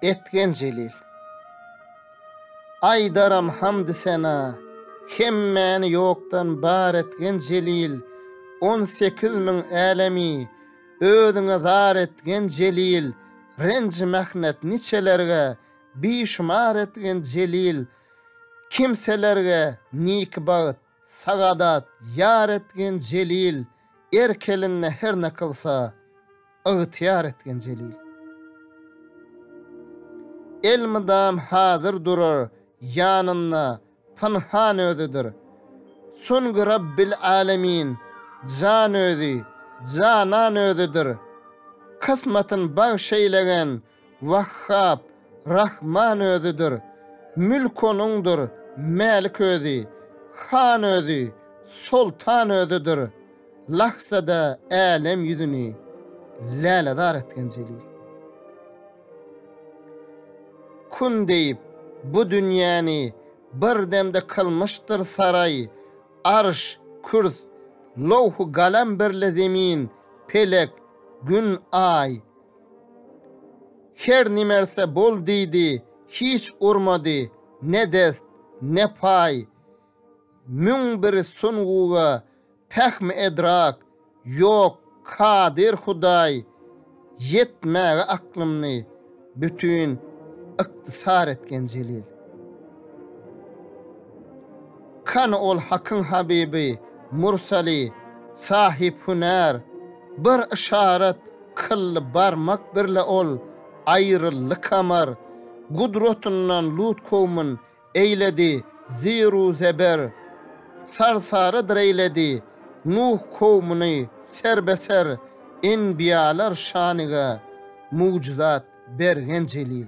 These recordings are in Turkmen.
Etgen Jelil. Aýdaram hamdy sena, hemmäni ýokdan bar etgen Jelil, On sekiz müň älemi özüňe zar etgen Jelil, Renji-mähnet niçelerge bişumar etgen Jelil, Kimselerge niki bagt Sagadat, ýar etgin Jelil, Erk elinde her ne kylsa, Ygtyýar etgin Jelil. Elmydam hazyr durar ýanynda, Pynhan özüdir. Çünki Rabbil Alemin, Jan özi, Janan özüdir. Kysmatyn bagş eýlegen Wahhap, Rahman Özüdir. Mülk Onuňdyr, Mälik Özi, Han Özi, Soltan Özüdir. Lahzada älem ýüzüni lälezar etgen Jelil. Kun diýip, bu dünýäni bir demde kylmyşdyr saraý, Arş, Kürs, Lowh-u Galam birle Zemin, Pelek, Gün, Aý. Her nimerse bol diýdi, hiç urmady, ne dest, ne paý. Müň bir sunguga pähmi-edrak, ýok, kadyr Hudaý, ýetmäge aklymny, bütin ykdysar etgen Jelil. Kany ol Hakyň habibi, mursaly, sahyp hünär? Bir yşarat kyldy barmak birle ol, aýryldy kamar. Gudratyndan Lut kowmyn eýledi zir-u zeber. Sarsarydyr eýledi Nuh kowmuny serbe-ser. Enbiýalar şanyga mugjyzat bergen jelil.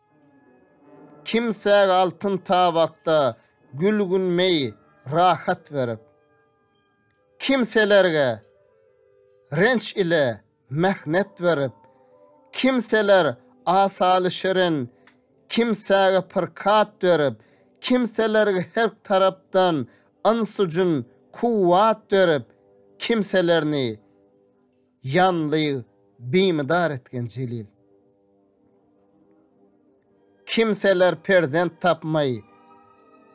Kimsäge altyn tabakda gülgün meý rahat berip, Kimselerge renç ile mähnet berip, Kimseler asaly şirin, kimsäge pirkat berip, Kimselerge her tarapdan yns-u-jyn kuwwat berip, Kimselerini. Janly bimydar etgen Jelil. Kimseler perzent tapmay,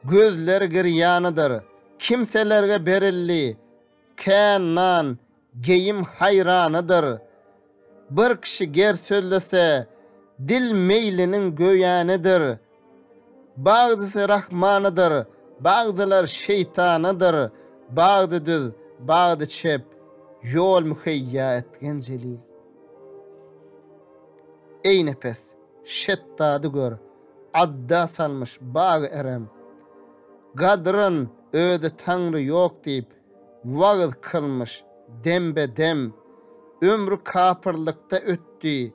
gözleri girýanydyr, Kimselerge berildi kän nan, geýim haýranydyr. Bir kişi ger sözlese, dil meýliniň göýänidir. Bagdysy Rahmanadyr, bagdylar şeýtanadyr, Bagdy düz, bagdy çep, ýol müheýýa etgen jelil. Eý nepes, şetdady gör, adda salmyş bagy erem, Gadyryn özi Taňry ýok diýip, wagyz kylmyş dembe-dem, Ömri kapyrlykda ötdi,